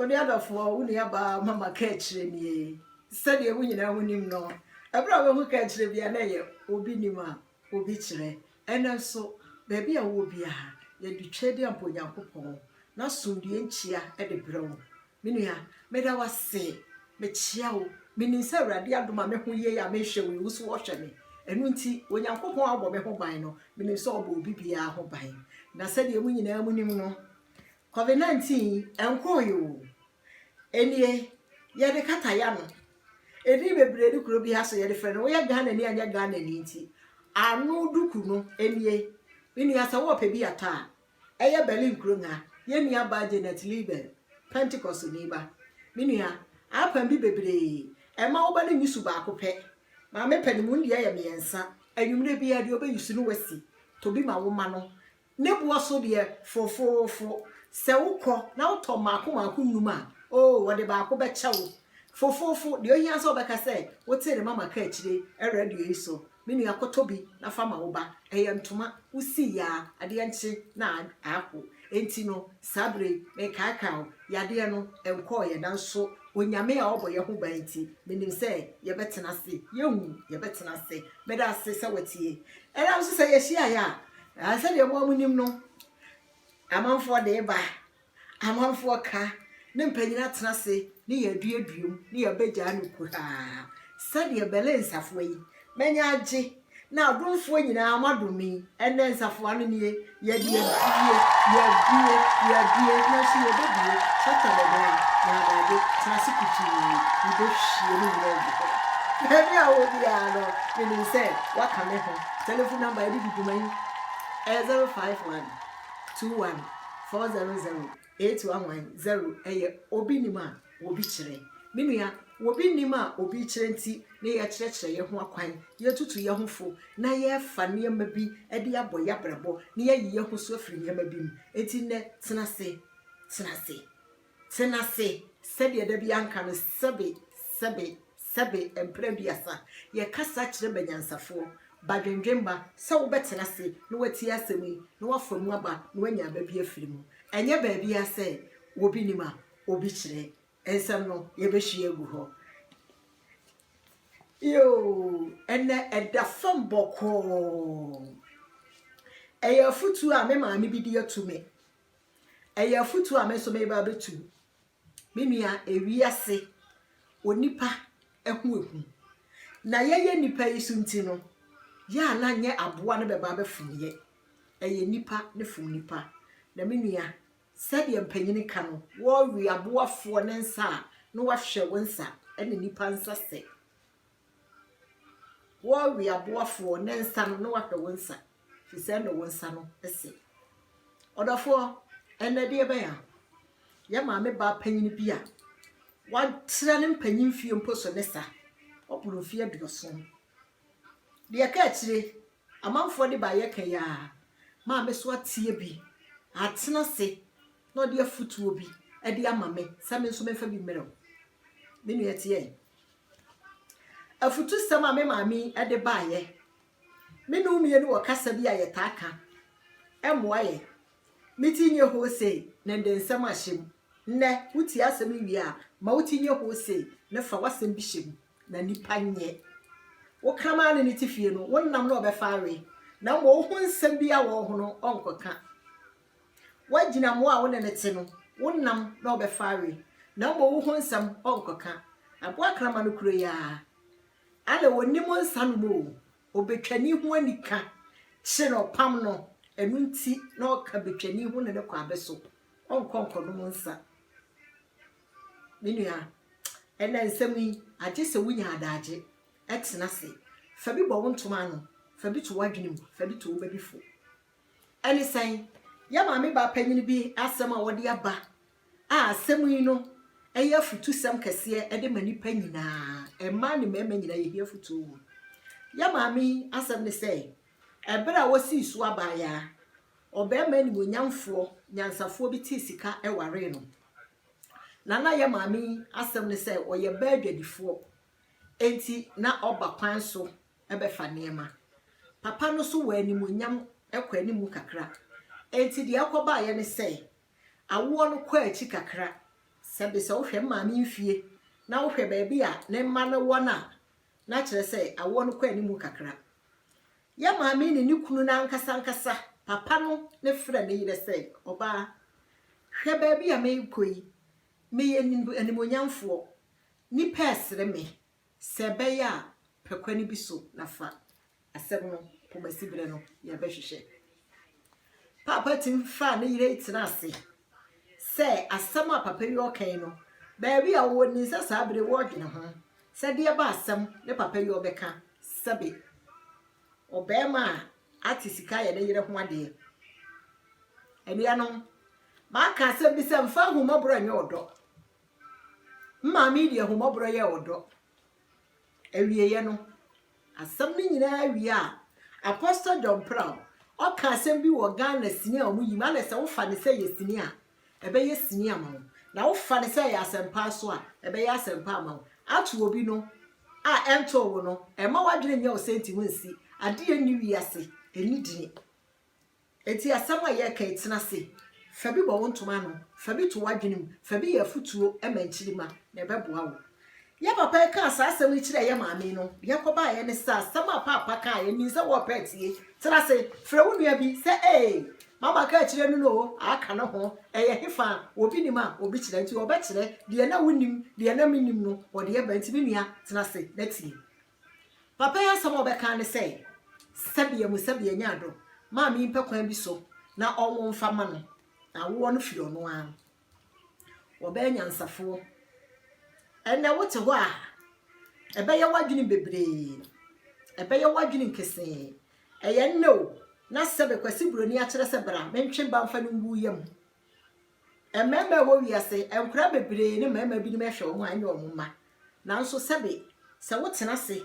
Onuadɔfoɔ, wo nuabaa Mama kaakyire nie. Sɛdeɛ mo nyinaa mo nim no, ɛberɛ a wobɛhu kaakyire biara na ɛyɛ obi nim a obi kyerɛ. Ɛnnɛ nso, baabi a wowɔ biara, yɛde Tweaduampa Onyankopɔn n'asomdwoeɛ nkyia de brɛ wo. Me nua, meda wo ase. Mekyea wo. Menim sɛ Awurade adom a me ho yei a mehwɛ wo yi, wo nso ɔhwɛ me. Ɛno nti, Onyankopɔn a ɔbɔ me ho ban no, menim sɛ ɔbɔ obi biara ho ban. Na sɛdeɛ mo nyinaa mo nim no, Covid 19 yi ɛnkɔɔe oo. Ɛnie yɛde kata yano. Ɛdin bebree ne kuro biara so yɛde frɛ no. Woyɛ Ghana ni anyɛ Ghana ni nti. Ano duku no ɛnie. Me nua sɛ wɔɔpɛ bi atɔ a, ɛyɛ Berlin kuro nha. Yɛn nua baa Janet Liebel, Pentecost ni ba. Me nua, apan bi bebree. Ɛmma wo ba no nyusu baako pɛ. Maame pɛ no mu no deɛ ɛyɛ mmiɛnsa. Anwummerɛ biara deɛ wobɛyusu no wasi. Tɔ bi ma wo ma no. Ne boɔ so deɛ fofoofo. Sɛ wokɔ na wotɔ mmaako mmaako nnum a, oo, wɔde baako bɛkyɛ wo. Fofoofo, deɛ ohia ara sɛ wobɛka sɛ, Wote ne mama ka akyire radio yi so. Me nua, kɔtɔ bi na fa ma wo ba. Ɛyɛ ntoma. Wosii yɛ a, adeɛ nkye na apo. Enti no, saa berɛ yi, mekaakae wo. Yadeɛ no, ɛnkɔeɛ, nanso Onyame a ɔbɔ yɛn ho ban nti, menim sɛ yɛbɛtena ase. Yɛnwu, yɛbɛtena ase. Meda ase sɛ woatie. Ɛnna nso sɛ yɛhyiaeɛ a, Na sɛdeɛ mo a monim no, amanfoɔ de ba, amanfoɔ ka, ne mpanin atena ase ne yɛn aduadua mu, ne yɛabɛgyaa no kuhaa, sɛdeɛ Berlin nsafoa yi, manya agye, na adomfoɔ nyina ara moadom me yi, ɛnnɛ nsafoa no nie, yɛde abue, yɛabue, yɛabue, nanso yɛbɛbue, shata ne dan, na adagye, tena ase kutuu, yɛbɛhwie ne nyina agu hɔ. Baabi a wowɔ biara no, menim sɛ woaka me ho. Telefon nɔmba a yɛde di dwuma yi yɛ zero five one two one four zero zero eight one one zero. Ɛyɛ obi nim a obi kyerɛ. Me nua, obi nim a obi rekyerɛ nti na yɛkyerɛkyerɛ yɛn ho akwan, yɛtutu yɛn ho fo, na yɛrefa nneɛma bi de abɔ yɛn abrabɔ na yɛayi yɛn ho so afiri nneɛma bi mu. Enti nnɛ, tena ase, tena ase. Tena ase, sɛdeɛ da biara nka no, sɛbe, sɛbe, sɛbe, mpra aduasa. Yɛkasa kyerɛ banyansafoɔ, badwendwemma, sɛ wobɛtena ase na watie asɛm yi, na wafa mu aba, na wanya aba bi afiri mu. Ɛnyɛ baabiara sɛ obi nim a obi kyerɛ. Nsɛm no, yɛbɛhwie agu hɔ. Yoo, ɛnnɛ ɛda fam bɔkɔɔ. Ɛyɛ afotuo a me maame bi de ato me Ɛyɛ afotuo a me nso meba abɛtu. Me nua, ewiase, onipa ho ahu. Na yɛyɛ nnipa yi so nti no, yɛ a na nyɛ aboa no bɛba abɛfom yɛ. Ɛyɛ nnipa ne fom nnipa. Na me nua, sɛdeɛ mpanyini ka no, wɔwe aboafoɔ ne nsa a, na wɔahwɛ wo nsa ne nnipa nsa sɛ. Wo ɔweaboafoɔ, ne nsa no, na wahwɛ wo nsa, firi sɛ ɛnna wo nsa no se. Ɔdɔfoɔ, ɛnnɛ deɛ bɛn a yɛ maame baa panyin bi a watrɛ ne mpanyin mfeɛ mpo so ne sa, waboro mfeɛ aduɔson. Deɛ ɛka akyire, amanfoɔ de baayɛ ka yi ara, maame so ateɛ bi, atena ase, na ɔde afutuo bi de ama me sɛ me nso memfa bi mmerɛ wo. Me nua tiɛ. Afutusɛm a me maame yi de baeɛ. Me ne wo mmienu wɔ kasa bi a yɛtaa ka. Ɛmmoa yɛn. Me ti nyɛ hoo sei, na ɛde nsɛm ahyɛ mu. Nnɛ, wotie asɛm yi wie a, ma wo ti nyɛ hoo sei, na fa w'asɛm bi hyɛ mu, na nnipa nyɛ. Wo kraman ne ne te fie no, wo nam na ɔbɛfa awe, na mmom wo ho nsɛm biara a ɔwɔ ho no, ɔnkɔka. Woagyina mmoa a wo ne no te no, wo nam na ɔbɛfa awe, na mmom wo ho nsɛm ɔnkɔka. Aboa krama no kuro yi ara, ale ɔnnim nsa nom o, ɔbɛtwani ho ani ka kye na ɔpam no, ɛno nti na ɔka bɛtwani ho ne no kɔ abɛ so, ɔnkɔ nkɔnom nsa. Me nua, ɛnɛ nsɛm yi, agye sɛ wonya adagye, ɛtena se, fa bi bɔ wo ntoma ano, fa bi to w'adwene mu, fa bi to wo ba bi fo. Ɛne sɛn? Yɛn maame baa panyin bi asɛm a ɔde aba a asɛm yi no yɛ afutusɛm kɛseɛ de ma nnipa nyinaa, mmaa ne mmarima nyinaa yɛhia afutuo wɔ mu. Yɛn maame yi asɛm ne sɛ, ɛberɛ a wɔsii so abaayaa, ɔbarima animuonyamfoɔ, nyansafoɔ bi tee sika waree no. Na na yɛn maame yi asɛm ne sɛ ɔyɛ baa adwadifoɔ, enti na ɔba kwan so bɛfa nneɛma. Papa no so wɔ animuonyam kɔ anim kakra. Enti deɛ ɛkɔbaeɛ ne sɛ, awoɔ no kɔɔ akyi kakra. Sɛ bi sɛ wohwɛ me maame mfie na wohwɛ baabi a ne mma no wɔ no a, na kyerɛ sɛ awoɔ no kɔ anim kakra. Yɛn maame ne ne kunu no ankasa ankasa, papa no ne frɛ ne yerɛ sɛ, Ɔbaa, hwɛ baabi a merekɔ yi, meyɛ animuonyamfoɔ. Nnipa resere me. Sɛ ɛbɛyɛ a, pɛ kwan bi so na fa asɛm no pomasi bere no yɛbɛhwehwɛ. Paapa tim faa ne yere tena ase sɛ asɛm a papa yi ɔka yi no, baabi a ɔwɔ nim sɛ saa bere wɔredwene ho sɛ deɛ ba asɛm ne papa yi ɔbɛka sɛbe ɔbarima a ate sika yɛ ne yere ho adeɛ. Anuanom, maka asɛm bi sɛ mfa ahummɔborɔ nyɛ ɔdɔ. Mmaa me de ahummɔborɔ yɛ ɔdɔ. Awieeɛ no, asɛm no nyinaa wie a, Apostle John Prall, ɔka asɛm bi wɔ Ghana sini a wɔyi mu, ana sɛ wofa no sɛ yɛ sini a, ɛbɛyɛ sini ama wo, na wofa no sɛ ɛyɛ asɛmpa nso a, ɛbɛyɛ asɛmpa ama wo. Ato obi no a ɛntoo wo no, ɛmma w'adwene nyɛ wo sɛ nti wonsi. Adeɛ nni wiase, ɛnni dini. Enti asɛm a yɛreka yi, tena ase. Fa bi bɔ wo ntoma ano. Fa bi to w'adwene mu. Fa bi yɛ afotuo ma nkyirimma, na ɛbɛboa wo. Yɛn papa yi kaa saa asɛm yi kyerɛɛ yɛn maame no. Deɛ ɛkɔbaeɛ ne sɛ, asɛm a Paapa kaeɛ no, nim sɛ wɔrepɛ atie. Tena ase. Frɛ wo nua bi sɛ, Ee, Mama kaa kyerɛɛ me no o, aka ne ho. Ɛyɛ hefa? Obi nim a, obi kyerɛ. Enti ɔbɛkyerɛ. Deɛ na wonim, deɛ na mennim no, ɔde bɛba. Enti me nua, tena ase na tie. Papa yi asɛm a ɔbɛka ara ne sɛ, Sɛbea mu sɛbea nyaa do, maame yi mpɛ kwan bi so na ɔnwo mfa mma no, na awoɔ no firi ɔno ara. Wɔbɛyɛ nyansafoɔ. Ɛnnɛ wote hɔ a, ɛbɛyɛ w'adwene bebree, ɛbɛyɛ w'adwene nkesee. Ɛyɛ nnɛ o, na sɛbe Kwasi Buroni akyerɛ sɛ bra mentwe ba mfa no ngu yam Mmarima a ɛwɔ wiase, nkwadaa bebree ne mmarima binom hwɛ wɔn a ɛnyɛ wɔn mma. Nanso sɛbe, sɛ wotena ase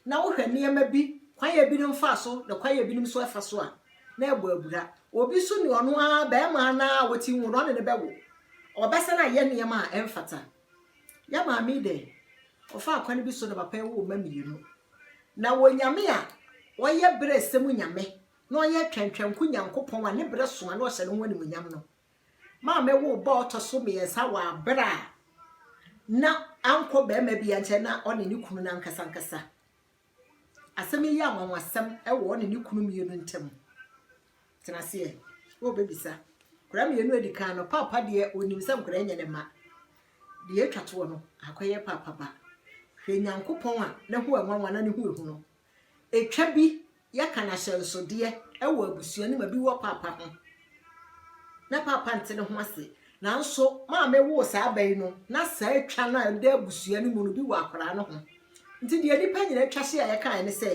na wohwɛ nneɛma bi kwan a ebinom fa so na kwan a ebinom nso fa so a, na ɛbɔ abira. Obi nso ne ɔno ara barima no ara a wati nwono, ɔne no bɛwo. Ɔbɛsan ayɛ nneɛma a ɛmfata. Yɛn maame yi deɛ, ɔfaa kwan bi so na papa yi woo mma mmienu. Na wɔn Nyame a wɔyɛ berɛsɛ mu Nyame na ɔyɛ Twɛntwɛnko Nyankopɔn a ne bere sõ a na ɔhyɛ ne ho animuonyam no maame woo ba a ɔtɔ so mmiɛnsa wɔ bere a na ankɔ barima biara nkyɛn na ɔne ne kunu no ankasa ankasa. Asɛm yi yɛ anwanwasɛm wɔ ɔne ne kunu mmienu ntam. Tena aseɛ, wobɛbisa. Nkwadaa mmienu adi kan no, paapa deɛ ɔnim sɛ nkwadaa nyɛ ne mma. Deɛ ɛtwa toɔ no, akɔyɛ paapa ba. Hwɛ Nyankopɔn a ne ho ɛnwanwa na ne ho ɛhu no, Etwa bi yɛka no ahyɛnsodeɛ wɔ abusua no mu a bi wɔ paapa ho na paapa nte ne ho ase nanso maame woo saa ba yi no na saa twa no a ɛda abusua no mu no bi wɔ akwaraa no ho nti deɛ nnipa nyinaa twa hye a yɛkaeɛ ne sɛ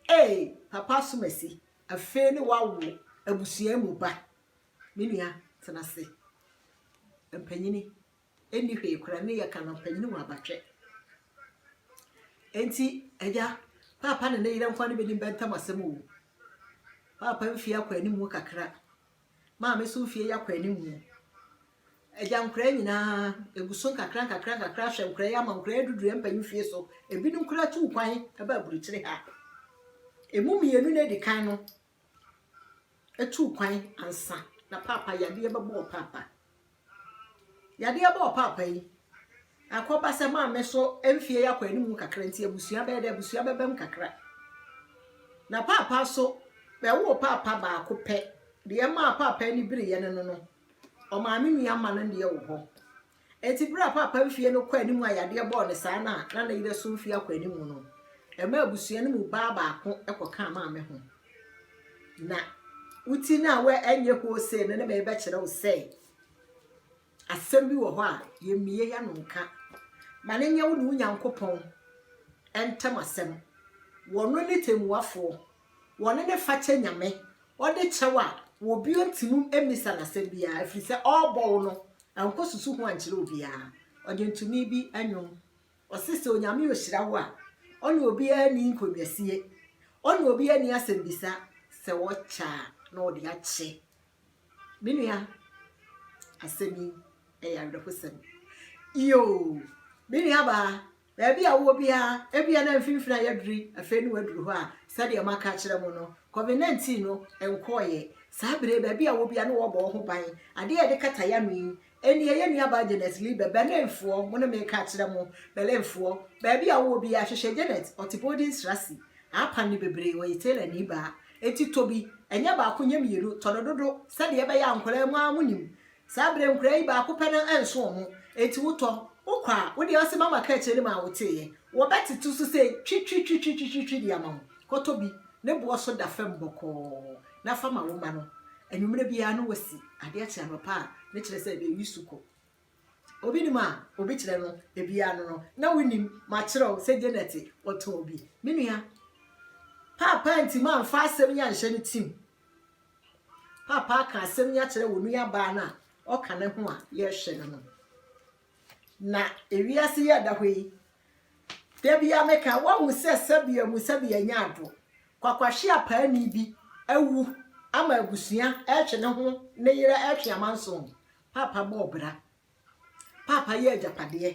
ee papa asomasi afei ne wawo abusua mu ba me nua tena ase mpanyini Ɛnni hwee koraa, me yɛ Canon panyin wɔ Abatwɛ. Enti, Agya, Paapa ne ne yere nkoa no bedim bɛ ntam asɛm oo. Paapa mfie akɔ anim mu kakra. Maame nso mfie yɛ akɔ anim mu. Agya, nkoraa nyinaa, egu so nkakra nkakra nkakra ahwɛ nkoraa yi ama nkoraa yi aduduru yɛn mpanyin fie so. Ebinom koraa tuu kwan baa aburukyire ha. Emu mmienu no a edi kan no, etuu kwan ansa na paapa yadeɛ bɛbɔ ɔpaapa. Yadeɛ bɔ ɔpaapa yi, akɔba sɛ maame so mfeɛ yi akɔ anim kakra nti abusua bɛyɛ dɛ abusua bɛbam kakra. Na paapa nso, bɛwoo paapa baako pɛ. Deɛ ɛmaa paapa ani bereeɛ ne no no, ɔmaame nua mma no deɛ wɔ hɔ. Enti bere a Paapa mfeɛ no kɔɔ anim a yadeɛ bɔɔ no saa na na ne yerɛ so mfeɛ akɔ anim no, ɛmaa abusua no mu baa baako kɔkaa Maame ho. Na wo ti no a wo ɛnyɛ hoo sei no ne merebɛkyerɛ wo sɛ asɛm bi wɔ hɔ a yɛmmie yɛ no nka. Ma no nyɛ wo ne wo Nyankopɔn ntam asɛm. Wɔno ne tɛmmuafoɔ. Wɔne no fakyɛ Nyame, ɔde kyɛ wo a, wɔbio ntim mmisa no asɛm biara, ɛfiri sɛ ɔɔbɔ wo no, nkɔ susu ho ankyerɛ obiara. Ɔdwontoni bi nwom, ɔse sɛ Onyame ɔhyira wo a, ɔne obiara nni nkɔnwasie, ɔne obiara nni asɛmbisa, sɛ wɔkyɛ a na ɔde akyɛ. Me nua, asɛm yi ɛyɛ awerɛhosɛm. Yoo, me nuabaa, Baabi a wowɔ biara, ebia na mfinimfini ayɛ duru yi, afei na woaduru hɔ a, sɛdeɛ maka akyerɛ mo no, Covid 19 no nkɔeɛ. Saa berɛ yi, baabi a wowɔ biara na wɔrebɔ wo ho ban. Adeɛ a yɛde kata yɛn ano yi, ɛnnie, yɛn nuabaa Janet Lee bɛ, Berlinfoɔ, mo ne me reka akyerɛ mo, Berlinfoɔ, baabi a wowɔ biara, hwehwɛ Janet, ɔte Bodenstrasse, Apan no bebree, ɔyɛ tailorni baa. Enti tɔ bi, ɛnyɛ baako, nyɛ mmienu, tɔ no dodo, sɛdeɛ ɛbɛyɛ a nkwadaa yi mo ara monim Saa berɛ nkuraa yi baako pɛ no nso wɔn, enti wotɔ, wokɔ a, wo deɛ ɔse mama ka akyerɛ no mu a woteeɛ, wɔbɛtete so sɛ twitwitwitwitwitwi de ama wo. Kɔtɔ bi, ne boɔ so da fam bɔkɔɔ, na fa ma wo mma no. Anwummerɛ biara no wɔsi adeɛ kye anɔpa a, ne kyerɛ sɛ bɛreyi su kɔ. Obi nim a, obi kyerɛ no, biara no no, na wonim, makyerɛ wo sɛ Janet ɔtɔɔ bi. Me nua, paapaa nti mamfa asɛm yi anhyɛ no tirim, Paapa aka asɛm yi akyerɛ wɔn nuabaa no a ɔka ne ho a yɛrehwɛ no no. Na ewiase yi ɛda hɔ yi, da biara meka wɔahu sɛ sɛbea mu sɛbea nya ado. Kwakwahye apaani bi awu ama abusua retwe ne ho ne yere retwe amanson. Paapa bɔɔ bra. Paapa yɛ agyapadeɛ.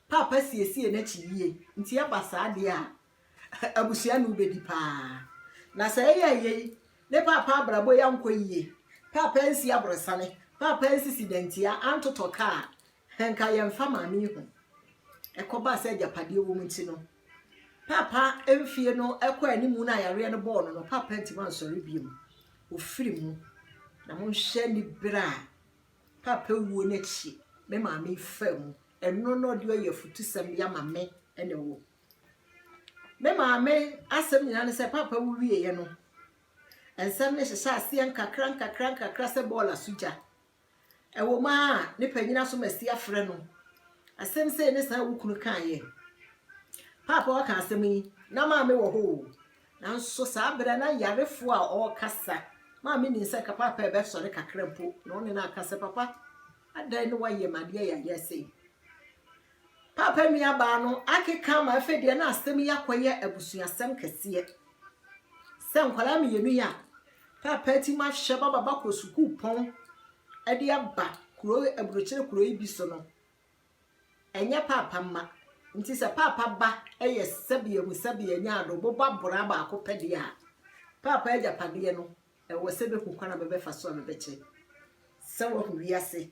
Paapa siesie n'akyi yie. Nti ɛba saa deɛ a, abusua ne wo bɛdi pa ara. Na sɛ ɛyɛɛ yei, ne Paapa abrabɔ yi ankɔ yie, Paapa ansi aborɔsane, Paapa ansisi dantia, antotɔ kaa a, nka yɛmfa Maame yi ho. Ɛkɔbaa sɛ agyapadeɛ wɔ mu nti no, Paapa mfeɛ no kɔɔ anim no a yareɛ no bɔɔ no no, Paapa antumi ansɔre bio. Ɔfiri mu. Na monhwɛ aniberɛ a. Paapa wuo no akyi, me maame faa mu. Ɛno na ɔde ayɛ afutusɛm de ama me ne wo. Me maame asɛm nyinaa ne sɛ Paapa wu wieeɛ no, nsɛm no hyehyɛ aseɛ nkakra nkakra nkakra sɛ bɔɔl asogya. Ɛwɔ mu a ne panyin asomasi afrɛ no. Asɛm sei ne saa a wo kunu kaeɛ. Paapa ɔka asɛm yi, na maame wɔ hɔ o. Nanso saa bere na yarefo a ɔrekasa ma me nim sɛ nka paapa rebɛsɔre kakra mpo, na ɔne no aka sɛ, Papa, adɛn na woayɛ me adeɛ yayɛ sei? Paapa nuabaa no akeka ma afei deɛ na asɛm yi akɔyɛ abusuasɛm kɛseɛ. Sɛ nkwadaa mmienu yi a paapa ti ma hyɛ baba bakɔ sukuupɔn de aba kuro aburokyire kuro yi bi so no, Ɛnyɛ paapa mma. Nti sɛ paapa ba yɛ sɛbea mu sɛbea nya ado bobɔ abora baako pɛ deɛ a, paapa agyapadeɛ no, ɛwɔ sɛ bɛhu kwan a bɛbɛfa so a bɛbɛkyɛ sɛ wahu wiase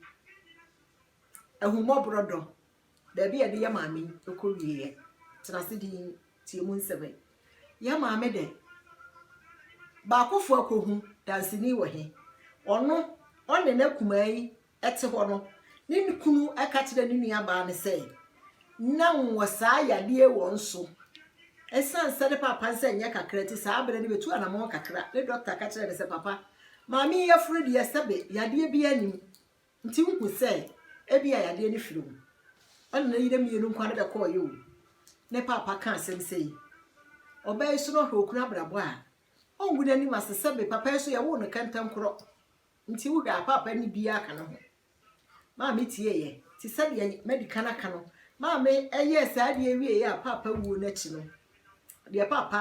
ahummɔborɔ dɔ, baabi a yɛde yɛ maame kɔ wieɛ. Tena ase din tie mu nsɛm yi. Yɛ maame dɛ. Baakofoɔ akɔhu danseni wɔ he? Ɔno, ɔne n'akumaa yi te hɔ no, ne kunu ka kyerɛɛ ne nuabaa no sɛ, Ná wɔwɔ saa yadeɛ yi wɔ nso. Ɛsiane sɛ ne papa nsa nyɛ kakra nti, saa berɛ no bɛtu anammɔn kakra. Ne dɔkta ka kyerɛɛ no sɛ, Papa, maame yi yafunu deɛ, sɛbe yadeɛ biara nni mu. Nti wohu sɛ ebia yadeɛ no firi wo. Ɛna ne yere mmienu nkoa no bɛkɔeɛ o. Ne papa ka asɛm sei. Ɔbaa yi so na ɔhwɛ okunu abrabɔ a, ɔngu n'anim ase sɛbe papa yi nso yɛwoo no kɛntɛnkorɔ. Nti wohwɛ a paapa nni biaa ka ne ho? Maa me tieeɛ, te sɛdeɛ madi kan aka no, maa me yɛɛ saa adeɛ wieeɛ a paapa wuo no akyi no, deɛ paapa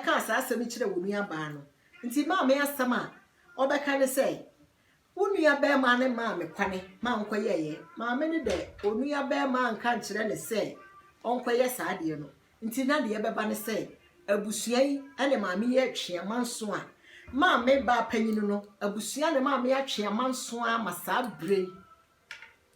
kaa saa asɛm yi kyerɛɛ wo nua baa no. Nti maa me asɛm a ɔbɛka ne sɛ, wo nua bɛɛmaa no maa me kwane maa nkɔ yɛɛyɛ. Maa me ne dɛ onua bɛɛmaa nka nkyerɛ ne sɛ ɔnkɔ yɛ saa adeɛ no, nti na deɛ ɛbɛba ne sɛ abusua yi ne maame yi atwe amanso a maame baa panyin no abusua ne maame atwe amanso a ma saa bere yi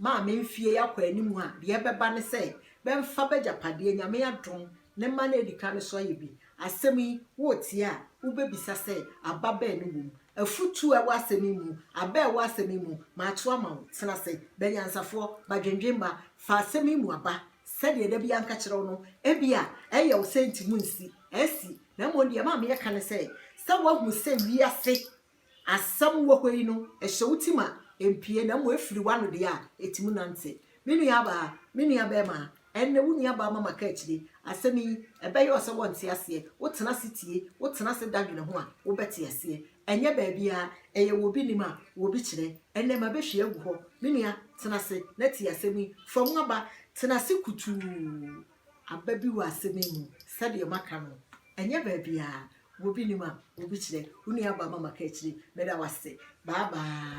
maame mfie yi akɔ anim a deɛ ɛbɛba ne sɛ bɛmfa bɛgyapadeɛ nyame adom ne mma no adi ka no so ayɛ bi asɛm yi wotie a wobɛbisa sɛ aba bɛɛ ne wom afutuo a ɛwɔ asɛm yi mu aba a ɛwɔ asɛm yi mu maato ama wo tena ase bɛnyansafoɔ badwendwemma fa asɛm yi mu aba Sɛdeɛ da biara nka kyerɛ wo no, ebia ɛyɛ wo sɛ nti mu nsi, asi, na mmom deɛ ɛma me ɛka ne sɛ, sɛ woahu sɛ wiase asɛm wɔ hɔ yi no ɛhyɛ wo tim a, ɛmpue, na mmom ɛfiri w'ano deɛ a, ɛti mu nante. Me nuabaa, me nuabarima, ɛnnɛ wo nuabaa ma maka akyire, asɛm yi, ɛbɛyɛ wo sɛ wɔnte aseɛ, wotena ase tie, wotena ase da dwene ho a, wobɛte aseɛ. Ɛnyɛ baabiara, ɛyɛ wɔ obi nim a obi kyerɛ. Ɛnnɛ mabɛhwie agu hɔ. Me nua, tena ase na tie asɛm yi, fa mu aba. Tena ase kutuu. Aba bi wɔ asɛm yi mu, sɛdeɛ maka no. Ɛnyɛ baabiara, wɔ obi nim a obi kyerɛ. Wo nua Bama Makakyire, meda wo ase. Bye bye.